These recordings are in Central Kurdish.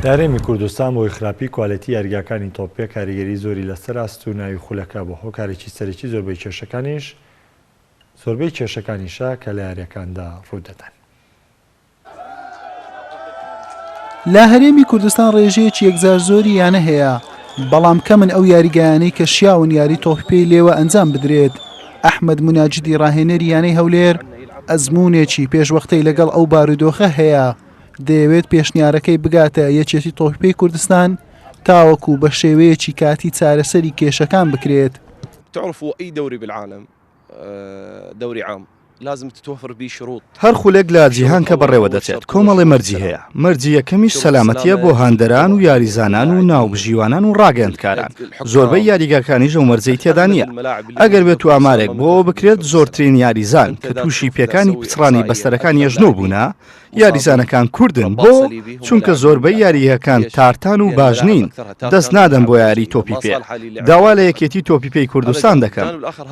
دارێمی کوردستان بەهۆی خراپی کوالێتی یاریگاکانی تۆپێ کاریگەری زۆری لەسەر ئاست و ناوی خولەکە بووە، هۆکارێکی سەرەکی زۆربەی کێشەکانیش زۆربەی کێشەکانیشە کە لە یاریەکاندا ڕوودەدەن. لە هەرێمی کوردستان ڕێژەیەکی یەکجار زۆری یانە هەیە، بەڵام کەمن ئەو یاریگایانەی کە شیاون یاری تۆپی پێی لێوە ئەنجام بدرێت، ئەحمەد مناجدی ڕاهێنەری یانەی هەولێر ئەزموونێکی پێشوەختەی لەگەڵ ئەو بارودۆخە هەیە، دەیەوێت پێشنیارەکەی بگاتە یەکێتی تۆپی کوردستان تاوەکو بە شێوەیەکی کاتی چارەسەری کێشەکان بکرێت. تعرفوا اي دوري بالعالم دوري عام لازم تتوفر بيه شروط. هەر خولەک لە جیهان کە بەڕێوە دەچێت کۆمەڵێ مەرجی هەیە، مەرجی یەکەمیش سەلامەتییە بۆ هاندەران و یاریزانان و ناوبژیوانان و ڕاگەیەندکاران، زۆربەی یاریگاکانیش ئەو مەرجەی تێدا نییە، ئەگەر بێتو ئامارێک بۆ ئەوە بکرێت زۆرترین یاریزان کە تووشی پێکانی پچڕانی بەستەرەکان یەژنۆ بوونە، یاریزانەکان کوردن بۆ؟ چونکە زۆربەی یارییهکان تارتان و باش نین دەست نادەن بۆ یاری تۆپی پێ داوا لە یەکێتی تۆپی پێی کوردستان دەکەم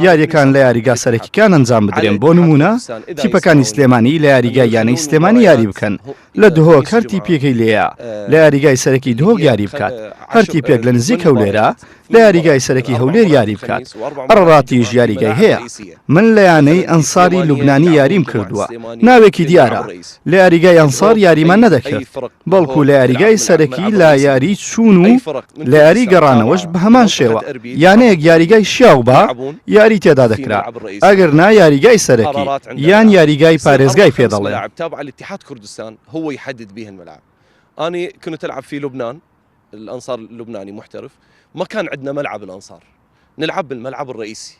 یارییەکان لە یاریگا سەرەکیکان ئەنجام بدرێن بۆ نمونە تیپەکانی سلێمانی لە یاریگای یانەی سلێمانی یاری بکەن لە دهۆک هەر تیپیەکەی لێیە لە یاریگای سەرەکی دهۆک یاری بکات هەر تیپێک لە نزیک هەولێرە لە یاریگای سەرەکی هەولێر یاری بکات ئەڕڕاتیش یاریگای هەیە من لە یانەی ئەنساری لوبنانی یاریم کردووە ناوێکی دیارە لە یاریگای ئەنسار یاریمان نەدەکرد بەڵکو لە یاریگای سەرەکی لە یاری چوون و لە یاری گەڕانەوەش بە هەمان شێوە یانەیەک یاریگای شیاو بە یاری تێدا دەکرا ئەگەر نا یاریگای سەرەکی یان یاریگای پارێزگای پێ دەڵێ کوردستان هو يحدد به الملعب أنا كنت ألعب في لبنان الانصار لبنانی محترف ماکان عندنا ملعب الانصار نلعب بالملعب الرئیسی.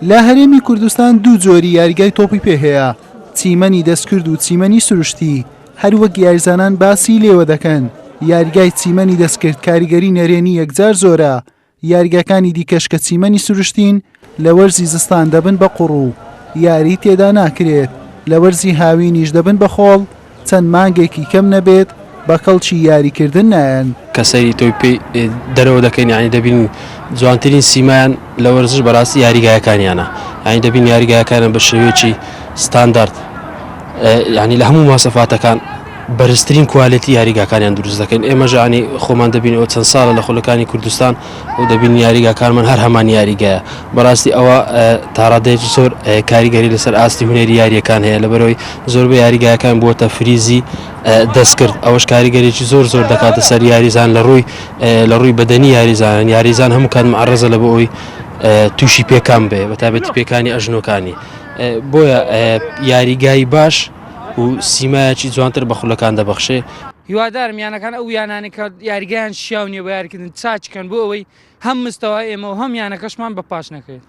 لە هەرێمی کوردستان دوو جۆری یاریگای تۆپی پێ هەیە، چیمەنی دەستکرد و چیمەنی سروشتی، هەروەک یاریزانان باسی لێوە دەکەن، یاریگای چیمەنی دەستکرد کاریگەری نەرێنی یەکجار زۆرە، یاریگاکانی دیکەش کە چیمەنی سروشتین لە وەرزی زستان دەبن بە قوڕ و یاریی تێدا ناکرێت، لە وەرزی هاوینیش دەبن بە خۆڵ، چەند مانگێکی کەم نەبێت بە کەڵکی یاریکردن نایەن. کە سەیری تۆپی پێی دەرەوە دەکەین یانی دەبینین جوانترین سیمایان لە وەرزش بەراستی یاریگایەکانیانە یانی دەبینین یاریگایەکانیان بە شێوەیەکی ستاندارد یانی لە هەموو مۆسەفاتەکان بەرزترین کوالێتی یاریگاکانیان دروست دەکەن ئێمەش یانی خۆمان دەبینەوە چەند ساڵە لە خولەکانی کوردستان و دەبین یاریگاکانمان هەر هەمان یاریگایە بەڕاستی ئەوە تاڕادەی زۆر کاریگەری لەسەر ئاستی هونەری یاریەکان هەیە لەبەرەوەی زۆر بە یاریگایەکان بووە تەفریزی دەستکرد ئەوەش کاریگەرێکی زۆر زۆر دەکاتە سەر یاریزان لە ڕووی لە ڕووی بەدەنی یاریزانان یاریزان هەموو کات معڕزە لە بۆ ئەوی تووشی پێکان بێ بە تابێتی پێکانی ئەژنۆکانی بۆیە یاریگای باش و سیمایەکی جوانتر بە خولەکان دەبەخشێ. هیوادارم یانەکان ئەو یانانەی کە یاریگایان شیاو نییە بە یاریکردن چاک بکەن بۆ ئەوەی هەم مستەوا ئێمە و هەم یانەکەشمان بە پاش نەکەوێت.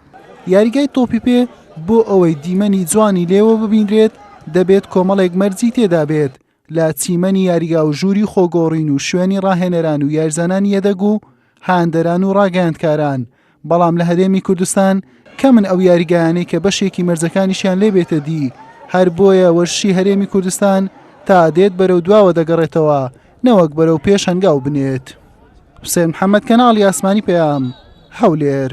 یاریگای تۆپی پێ بۆ ئەوەی دیمەنی جوانی لێوە ببینرێت دەبێت کۆمەڵێک مەرجی تێدا بێت لە چیمەنی یاریگا و ژووری خۆگۆڕین و شوێنی ڕاهێنەران و یاریزانانی یەدەگ و هاندەران و ڕاگەیاندکاران، بەڵام لە هەرێمی کوردستان کەمن ئەو یاریگایانەی کە بەشێکی مەرجەکانیشیان لێ بێتە دی، هەر بۆیە وەرشی هەرێمی کوردستان تا دێت بەرەو دواوە دەگەڕێتەوە نەوەک بەرەو پێش هەنگاو بنێت. حوسێن محەمەد، کەناڵی ئاسمانی پەیام، هەولێر.